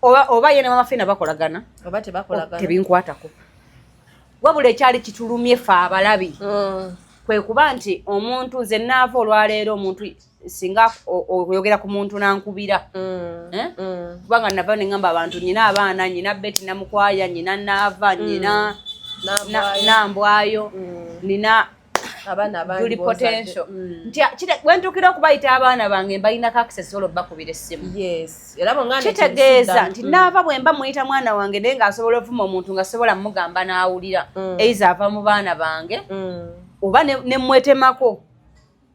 oba oba yene mama fina bakolagana oba tebakolagana oh, tebinkwatako wabula ekyali kitulumye fe abalabi mm. kwe kuba nti omuntu nze naava olwaleero omuntu singa oyogera ku muntu nankubira mm. Eh? Mm. kubanga nava neŋamba abantu nyina abaana nyina beti namukwaya nyina naava nyina nambwayo nina abaana bandi potential mm. nti wentukira okubayita abaana bange mbalina access olo bakubira essimu yes era bongana kitegeeza nti mm. naava bwemba muyita mwana wange naye nga asobola ovuma omuntu nga sobola mugamba n'awulira mm. eiza ava mu baana bange oba ne mwetemako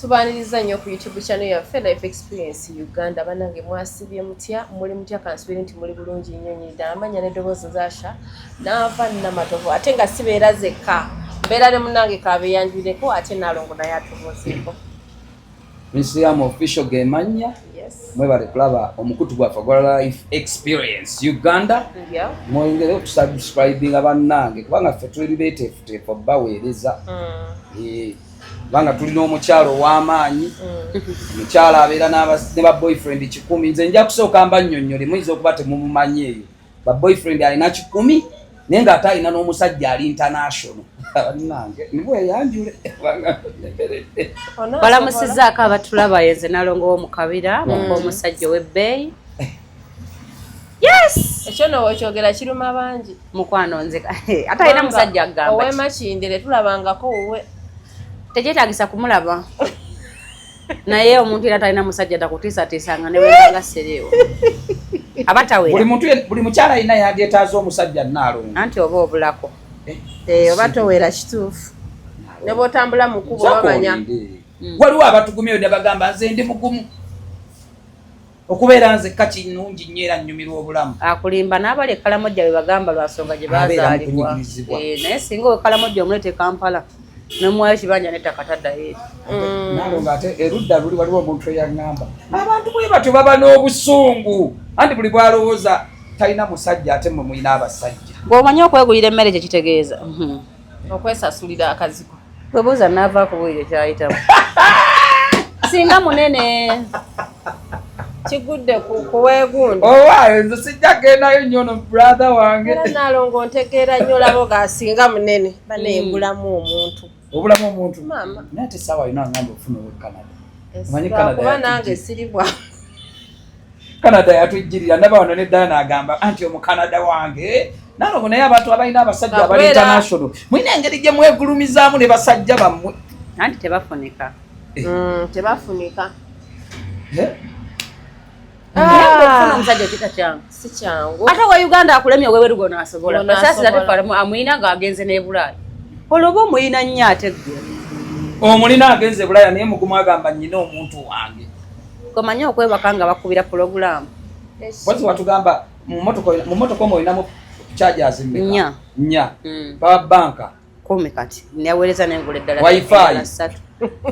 Tubaaniriza nnyo ku YouTube channel yaffe Life Experience Uganda. Banange mwasibye mutya? Muli mutya kansubiri nti muli bulungi nnyo nnyo ddala. Amanya ne ddoboozi zasha naava namatovu ate nga sibeera zekka. Mbeera ne munange kaabe yanjuleko ate nalongo naye atubuuzeeko. Misiyamu official ge mannya. mwebale kulaba omukutu gwaffe gwa life experience uganda mwongere okusubscribinga bannange kubanga ffe tuli beteefuteefu baweereza mm. eh, kubanga tulina omukyalo ow'amaanyi mm. omukyalo abeera ne ba boyfriend kikumi nze nja kusooka mba nnyonnyole muyinza okuba temumumanyi eyo ba boyfriend alina kikumi naye nga ate alina n'omusajja ali international balamusizaako abatulaba yenze nalongo wo mu kabira muka mm. omusajja ow'ebbeeyi yes ekyo nowo kyogera kiruma bangi mukwano nze ate alina musajja agamba owemakindire tulabangako wuwe tekyetagisa kumulaba naye omuntu era talina musajja takutiisatiisa nga newebanga sereewo aba tawera buli mukyala alina yadyetaaza omusajja naalongo anti oba obulako eh, eh, oba towera kituufu ne bwotambula mu kubo bamanya mm. waliwo abatugumyeyo ne bagamba nze ndi mugumu okubeera nzekka kinungi nnyo era nnyumirwa obulamu akulimba n'abali ekalamojja be bagamba lwa nsonga gye bazaalibwa eh, naye singa owekalamojja omuleeta ekampala nomuwayo kibanja nettaka taddayo eri mm. nalo ngaate erudda luli waliwo omuntu eyaŋŋamba abantu bwe batyo baba n'obusungu anti buli bwalowooza talina musajja ate mwe mulina abasajja bw'omanyi okwegulira emmere kye kitegeeza mhm. okwesasulira akaziko webuuza naava kubuulire kyayitamu singa munene kigudde kuwegundi owaayo oh, nze sijja gendayo nnyo no brother wange era nalongo ntegeera nnyo labo gasinga munene baneyegulamu hmm. omuntu obulamu omuntu naye te saawa yona angamba okufuna owe canada omanyi canada kuba nange siribwa canada yatujjirira ndaba wano ne dana agamba anti omucanada wange nalogo naye abantu abalina abasajja abali international mulina engeri gye mwegulumizaamu ne basajja bammwe anti tebafunika eh. mm, tebafunika eh? ah. omusajja kita kyangu si kyangu ate wa uganda akulemye owewerugo nasobola kasasira tefalamu amuyina nga agenze nebulaaya oloba omuyina nnyo ate gwe omulina agenze bulaaya naye mugumu agamba nyina omuntu wange Komanya okwebaka nga bakubira pulogulaamu. Bwezi watugamba mu mmotoka omu olinamu chargers mmeka? Nnya. Hmm. Power banka. Kumi kati. Naweereza n'engula eddala. Wi-Fi.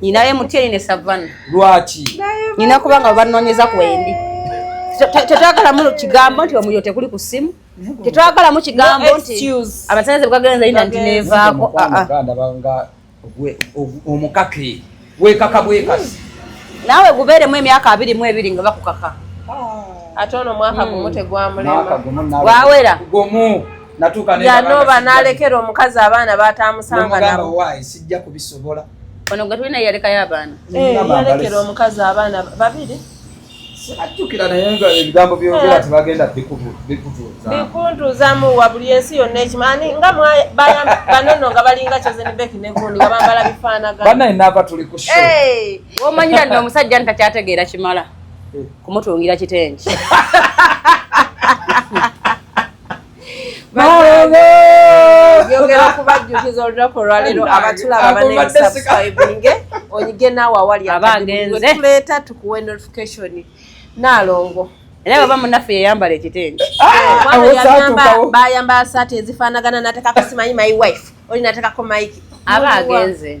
Nina ye mutyeni ne savana. Lwaki? Nina kubanga banoonyeza ku endi. Tetwagalamu kigambo nti omuliro tekuli ku ssimu. Tetwagalamu kigambo nti abasaze bwagenda nti neevaako. Ah, ah. omukake wekaka bwekasi naawe gubeeremu emyaka abiri mu ebiri nga bakukaka ah. ate ono mwaka gumu hmm. tegwamulewawera yanoba nalekera omukazi abaana batamusanga nabo sijja kubisobola ono gwe tulina yalekayo abaana eh, yalekera omukazi abaana babiri sibajjukira naye nga ebigambo byogera eh. tebagenda bikuntuuzamu wa buli ensi yonna ekimanyi nga banono nga balinga kyozenibeki negundi nga bambala bifaanaganaenava tuli ku eh. womanyira nti omusajja nti takyategeera kimala eh. kumutungira kitengi yogera okubajjukiza olunaku olwaleero abatulaba banesubscribinge onyige naawe awali abagenzetuleeta tukuwe notification naalongo era baba munaffe yeyambala ekitenge bayambala saati ezifaanagana natekako simanyi my wife oli natekako mike aba agenze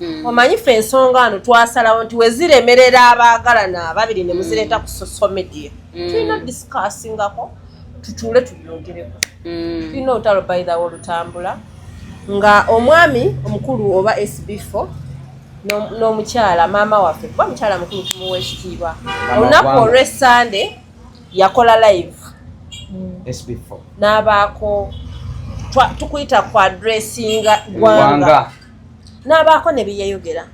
Mm. omanyi fe ensonga ano twasalawo nti weziremerera abaagalana ababiri ne muzireeta ku social media mm. tulina discussingako tutuule tubyogereko mm. tulina olutalo baithawo olutambula nga omwami omukulu oba sb4 n'omukyala maama waffe kuba mukyala mukulu tumuwa ekitiibwa olunaku olwe sunday yakola live n'abaako tukuyita ku adressinga gwanga n'abaako ne bye yayogera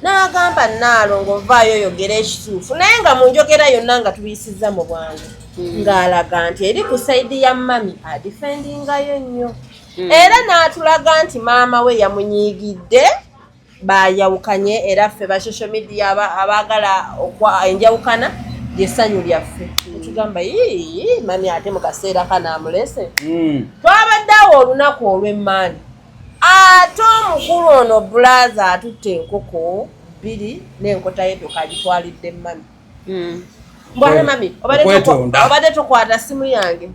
n'agamba nnaalongo ovaayo oyogera ekituufu naye nga mu njogera yonna nga tuyisizza mu bwangu hmm. ng'alaga nti eri ku sayidi ya mami adifendingayo nnyo hmm. era n'atulaga nti maama we yamunyiigidde bayawukanye era ffe ba social media abaagala enjawukana lyessanyu lyaffe hmm. etugamba yii mami ate mu kaseera kanaamulese twabadde awo olunaku olw'emmaani ate omukulu ono bulaza atutte enkoko bbiri n'enkota ye toka agitwalidde mami hmm. mbwale mami obadde tokwata simu yange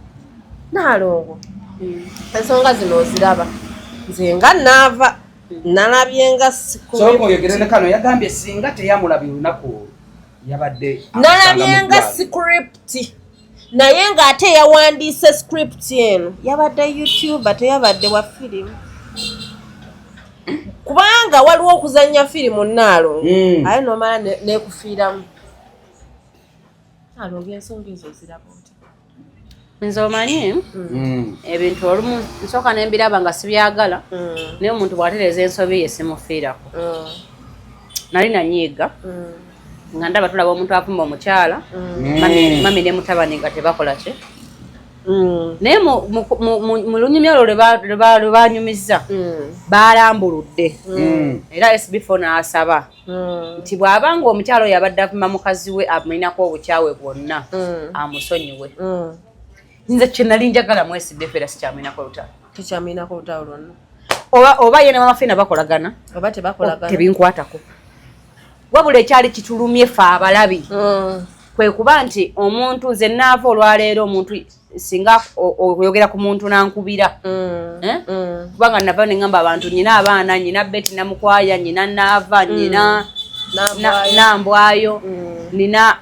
naalongo hmm. ensonga zino oziraba nze nga naava hmm. nalabye nga sikoyogerenekano yagambye singa teyamulabye olunaku olwo yabadde nalabye nga sikuripti naye ng'ate yawandiise script eno yabadde youtube teyabadde wa firimu kubanga waliwo okuzannya firimu naalo hmm. aye nomala nekufiiramu alonga ensonga ezo ziraba oti nze omanyi hmm. ebintu olumu nsooka nembiraba nga sibyagala hmm. naye omuntu bwatereeza ensobi ye simufiirako nali nanyiiga nga ndaba tulaba omuntu avuma omukyala mm. mami ne mutabani nga tebakola ki mm. naye mu lunyumya olwo lwe banyumizza mm. balambuludde era sbfo n'asaba nti bw'aba nga omukyala oyo abadde avuma mukazi we amulinako obukyawe bwonna amusonyiwe nze kyenali njagala mu sbf era sikyamulinako lutalo tekyamulinako lutalo lwonna oba yena mamafiina bakolagana oba tebakolagana tebinkwatako wabula ekyali kitulumye fe abalabi mm. kwe kuba nti omuntu nze naava olwaleero omuntu singa oyogera ku muntu nankubira mm. Eh? Mm. kubanga nava neŋamba abantu nyina abaana nyina beti namukwaya nyina naava nyina nambwayo nina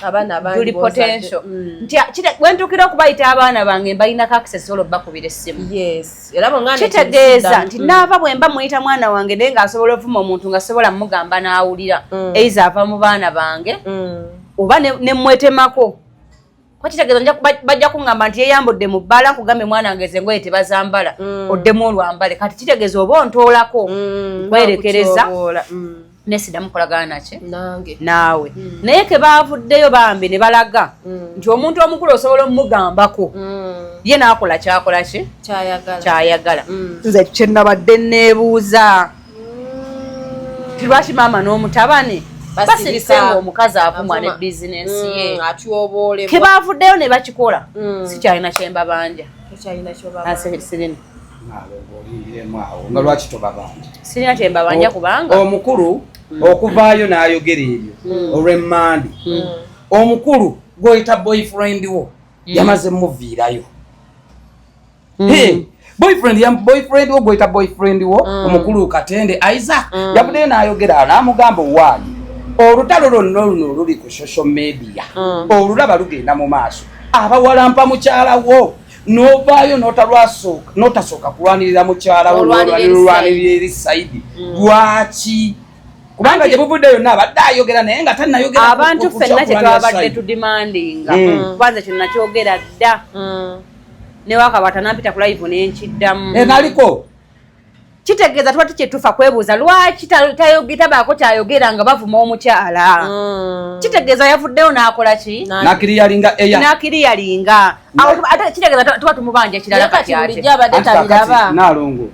abaana abangi potential mm. nti wentukira okubayita abaana bange mbalina kaksesi olwo bakubira essimu kitegeeza nti mm. naava bwemba muyita mwana wange naye nga asobola ovuma omuntu nga sobola mugamba n'awulira mm. eiza ava mu baana bange oba nemwetemako kuba kitegeeza bajja kuŋŋamba nti yeyambudde mu bbaala nkugambe mwana wange ezo engoye tebazambala mm. oddemu olwambale kati kitegeeza oba ontoolako mm, kwerekereza mm. nesidamu kolagana naki naawe naye kebaavuddeyo bambi ne balaga nti omuntu omukulu osobola omumugambako ye naakola kyakola ki kyayagala nze kyenabadde neebuuza lwaki maama n'omutabani basirika ngaomukazi avumwa ne bizinensi mm, ye atyoboolebwa kebaavuddeyo ne bakikola mm. sikyalina kyembabanja sirina nga lwaki tobabanja sirina kyembabanja kubanga omukulu mm. okuvaayo n'ayogera ebyo olw'emmandi omukulu gwoyita boyfriend wo yamaze muviirayo mm. boyfriend ya boyfriend wo goita boyfriend wo mm. omukulu katende Isaac mm. yabude na ayogera na mugambo wali olutalo lonno luno luli ku social media mm. olulaba lugenda mu maaso abawalampa mukyala wo novaayo notalwasooka notasooka kulwanirira mukyala wo nolwanirira eri saidi mm. lwaki mm. kubanga gye buvudde yonna abadde ayogera naye nga tanayogera abantu fenna kyetwabadde tudimandinga mm. kubanza kino nakyogera dda mm. ne wakaba tanampita ku live ne nkiddamu e naliko kitegeeza tuba tukyetufa kwebuuza lwaki tabaako kyayogera nga bavuma omukyala mm. kitegeeza yavuddeyo n'akola ki nakiriyalinga eya nakiriyalinga ate kitegeeza tuba tumubanja kirala kati ate nalongo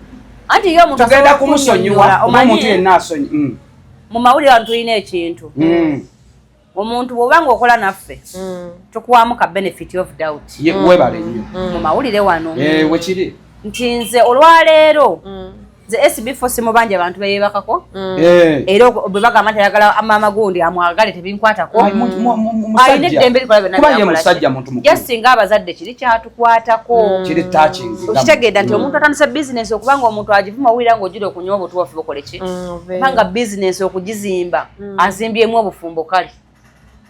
anti yo omuntu tugenda kumusonyiwa omuntu yenna asonyi mm. mu mawulire wano tulina ekintu mm. omuntu bwoba nga okola naffe mm. tukuwamu ka benefit of doubt mm. webale nyo mm. mu mawulire wano eh, wekiri nti nze olwaleero nze sb fo simubanja abantu beyebakako eh. era bwe bagamba nti ayagala amaama gundi amwagale tebinkwatako alina eddembe likola byonnasinga abazadde kiri kyatukwatako okitegeeda nti omuntu atandise bizinesi okubanga omuntu agivuma wulira nga ogira okunywa obutuwafu bukoleki kubanga bizinesi okugizimba mm. azimbyemu obufumbo kale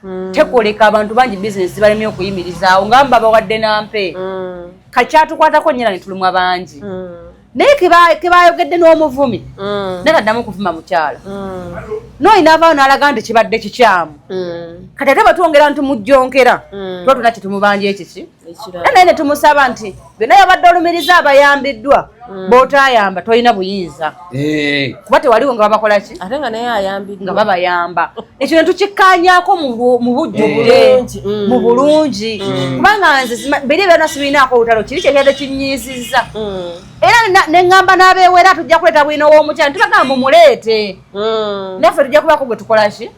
mm. tekoleka abantu bangi bizinesi zibalemye okuyimirizaawo nga mba bawadde nampe mm. kakyatukwatako nyera netulumwa bangi mm. naye kebayogedde n'omuvumi mm. naye kaddamu okuvuma mukyala mm. noyina avaayo nalaga nti kibadde kikyamu mm. kati ate batwongera nti mujjonkera mm. tuba tuna kitumubanja ekiki naye netumusaba nti byonna yabadde olumiriza abayambiddwa mm. botayamba tolina buyinza eh. kuba tewaliwo nga babakolaki ate nga naye ayambiddwa nga babayamba ekyo netukikkanyako mu bujjubule eh. mu mm. bulungi mm. kubanga nze biri byona sibirinaako olutalo kiri kyekyadde kinyiizizza era neŋŋamba n'abeewera tujja kuleeta bwina ow'omukyalo tubagamba mumuleete naffe tujja kubaako gwe tukolaki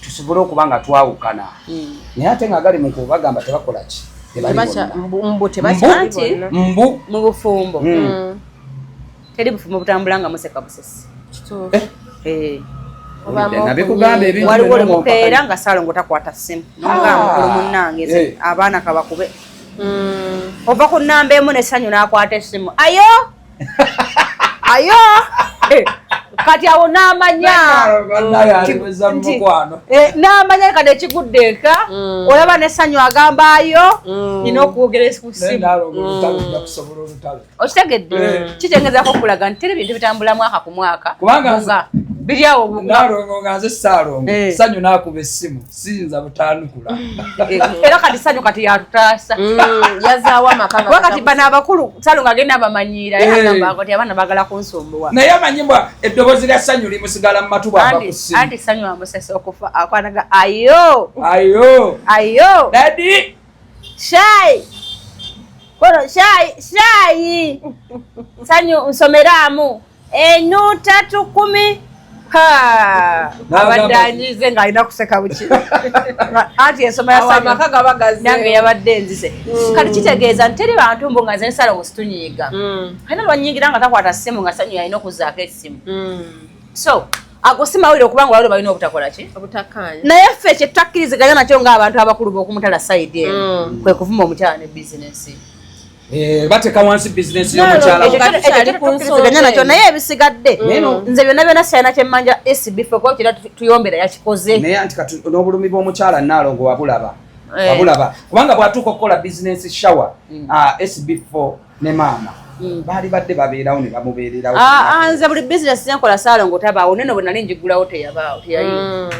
tusobole okuba nga twawukana hmm. naye ate nga agali mukubo bagamba tebakola ki mubufumbo hmm. hmm. teri bufumbo butambula nga museka busesi eh? eh. waliwo limupeera nga salongo takwata simu nonga ah. mukulu munange eh. abaana kabakube ova ku namba emu nesanyu nakwata esimu ayo ayo eh, kati awo namanya eh, namanya kati ekigudde eka mm. olaba nesanyu agambayo mm. nina okwogera kusimu okitegedde kitengezako okulaga nti teri bintu bitambula mwaka ku mwaka kubanga biri awo nalongo nga nze saalongo eh. sanyu nakuba essimu siyinza butanukula era kati sanyu kati yatutaasa mm, yazaawo amakakati bano abakulu salu nga agenda abamanyiira yagambako ti abaana bagala kunsumbuwa naye amanyi mbwa eddoboozi lya sanyu limusigala mu matu bwabakusi anti sanyu amusesa okufa akwanaga ayo ayo ayo dadi Shayi kono shayi shayi sanyu nsomeramu enuta tukumi abadde anyize nga alina kuseka buki anti ensoma yasanange yabadde enzize mm. kati kitegeeza nti teri bantu mbu nga zensala wositunyiiga mm. alina lwanyingira nga takwata simu nga sanyu yalina okuzaako esimu mm. so ago si mawulire okubanga olwaliro balina obutakola ki naye ffe ekyo tutakkiriziganya nakyo ng'abantu abakulu b'okumutala sayidi eno mm. kwe kuvuma omukyala ne bizinesi eh, bateka wansi bizinesi yomukyalaekyotukkiriziganya nakyo naye ebisigadde mm. nze byonna byonna sirina kyemmanja sb fe kuba kira tuyombera yakikoze naye anti kati n'obulumi bw'omukyala naalongo wabulaba eh. wabulaba kubanga bw'atuuka okukola bizinesi shawa mm. ah, sb four ne maama hmm. baali badde babeerawo ne bamubeererawo ah, ah, nze buli bizinesi zenkola saalongo tabaawo neno bwe nali njigulawo teyabaawo teyayi hmm.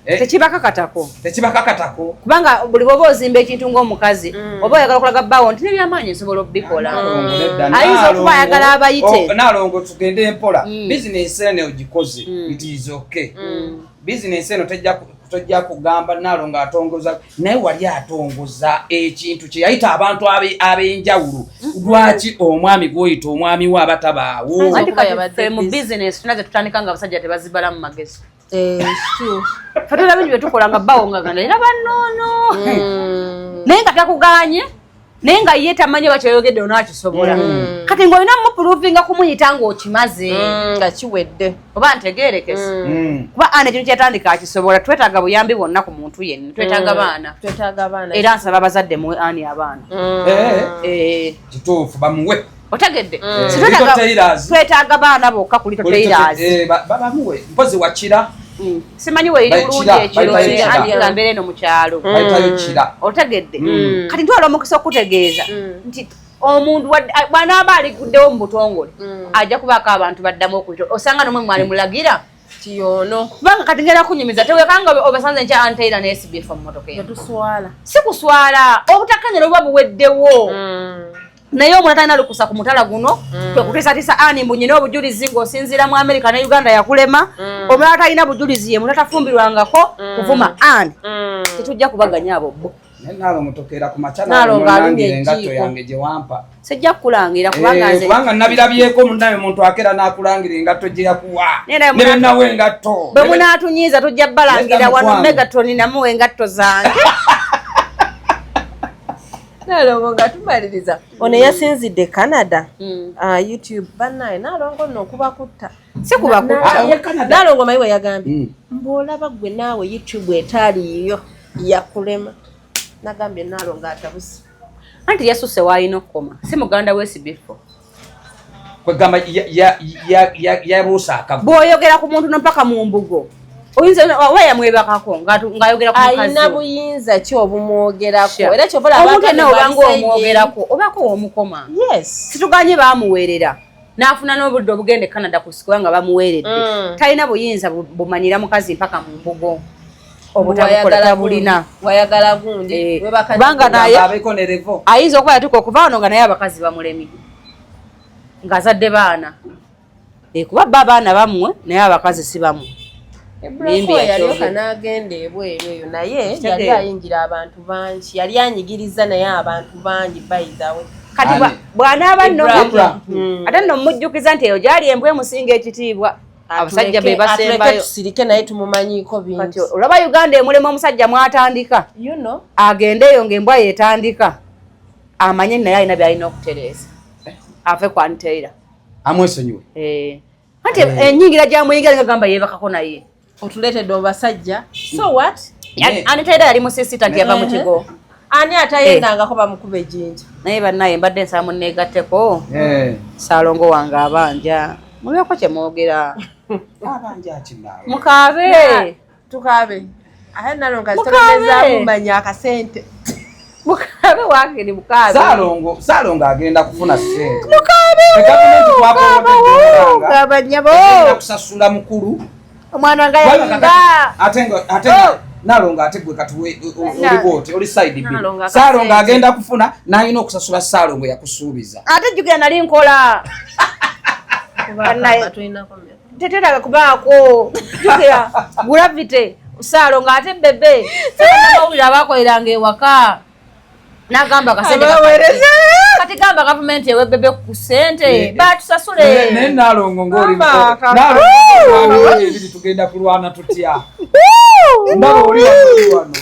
eh? tekibakakatako tekibakakatako kubanga buli bwoba ozimba ekintu ng'omukazi hmm. oba oyagala okulaga bbaawo nti nebyamaanyi nsobola okubikola ayinza okuba ayagala abayite oh, nalongo tugende mpola bizinesi eno ogikoze it is okay bizinesi eno tejja tojja kugamba naalo ng'atongoza naye wali atongoza ekintu kye yayita abantu ab'enjawulo mm-hmm. lwaki omwami gwoyita omwami we aba tabaawo mu bizinesi tuna ze tutandika nga abasajja tebazibala mu magezi eh, fetera bingi bye tukola nga bawongagana era banoono mm. naye nga takuganye naye nga ye tamanyi oba kyoyogedde ona akisobola mm. mm. kati ngaolina mupuluvinga kumuyita ngaokimaze mm, nga kiwedde oba ntegerekese kuba ana ekintu kyatandika akisobola twetaaga buyambi bwonna ku muntu yenna twetaaga baana era nsaba abazadde muwe ani abaana eh. Eh. kituufu bamuwe otegedde mm. twetaaga baana bokka kuli toteirazibabamuwe eh, mpozi wakira mm. simanyi weiri bulungi ekiroambeera eno mukyalo mm. otegedde kati ntwala omukisa okutegeeza nti omuntu bwanaaba aliguddewo mu butongole ajja kubaako abantu baddamu okuyita osanga nomwe mwali mulagira tiyono kubanga kati ngera kunyumiza tewekanga obasanze nkya anteira nesibifa mu motoka eyo tuswala sikuswala obutakanyala obuba buweddewo naye omwana talina lukusa ku mutala guno mm. kwe kutisatisa ani mbu nyina obujulizi ng'osinziira mu amerika ne uganda yakulema mm. omulala talina bujulizi ye muna tafumbirwangako mm. kuvuma ani mm. tetujja kubaganya abo bo sijja kukulangira kubanga eh, nabirabyeko munaye muntu akera nakulangira engatto gyeyakuwa nebenawo engatto bwe munatunyiiza tujja balangira wano megatoni namuwa engatto zange nalongo nga tumaliriza ono eyasinzidde canada hmm. ah, youtube banaye nalongo no okubakutta sikulongo mayi weyagambye hmm. mbuolaba gwe naawe youtube etaaliyiyo yakulema nagambye nalongo atabusi anti yasuse waalina okukoma si muganda wesibifo kwegamba yabuusa akabu bwoyogera ku muntu nompaka mu mbugo oyinza oba yamwebakako ng'ayogera ku mukazi alina buyinza ki obumwogerako era kyova omuntu enna obanga omwogerako obaako womukoma situganye bamuweerera n'afuna n'obudde obugenda e canada kusikuba nga bamuweeredde mm. talina buyinza bumanyira mukazi mpaka mu mbugo ayinza okuba yatuka okuva wano nga naye abakazi bamulemi ng'azadde baana eh, kuba bba abaana bamwe naye abakazi si bamwe yalyoka n'agenda ebweru eyo naye yali ayingira abantu bangi yali anyigiriza naye abantu bangi bayidawe kati bw'anaaba nno hmm. ate nno mmujjukiza nti eyo gyali embwa emusinga ekitiibwa abasajja be basembayo tusirike naye tumumanyiiko bingi olaba uganda emulema omusajja mwatandika you know. agendeeyo ngaembwa yetandika amanye naye alina byalina okutereeza ave ku anteira amwesonyiwe eh. anti eh. enyingira gyamuyingira ngagamba yebakako naye otuleetedde obasajja so what anteira yali musisita nti yava mu kigo ani atayendangako bamukuba ejinja naye banaye mbadde nsaba muneegatteko eh. saalongo wange abanja mubyeko kye mwogera mukaabe tukaabe aye nalonga zitolemezakumanya akasente mukaabe wange ni mukaabe saalongo saalongo agenda kufuna sente mukaabe gavumenti twakoakusasula mukulu omwana nga yayimba atenga atenga oh! nalonga ate gwe kati olibwoti oli side b salonga agenda kufuna nalina okusasula salongo yakusuubiza ate jjukira nali nkola teteraga kubaako jjukira gravity salonga ate bebe amawulire abakoleranga ewaka nagamba kasentekati gamba gavumenti ewebebe ku sente eh, eh. batusasule eh, naye nalongo ngolibiri tugenda kulwana tutya ndaba oli wano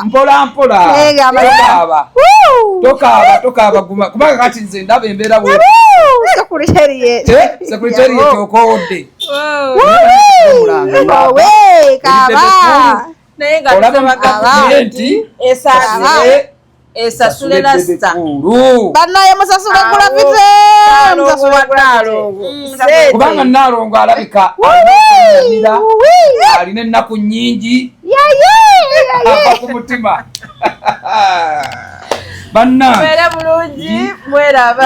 mpola mpola tokaaba tokaaba tokaaba guma kubanga kati nze ndaba embeera bwe sekuriteri yetokowodde naye nga tusabaga nti esasule esasule lasita banaye musasule gulapite kubanga nalongo alabika amira alina ennaku nyingi ava ku mutima bannange bulungi mweraba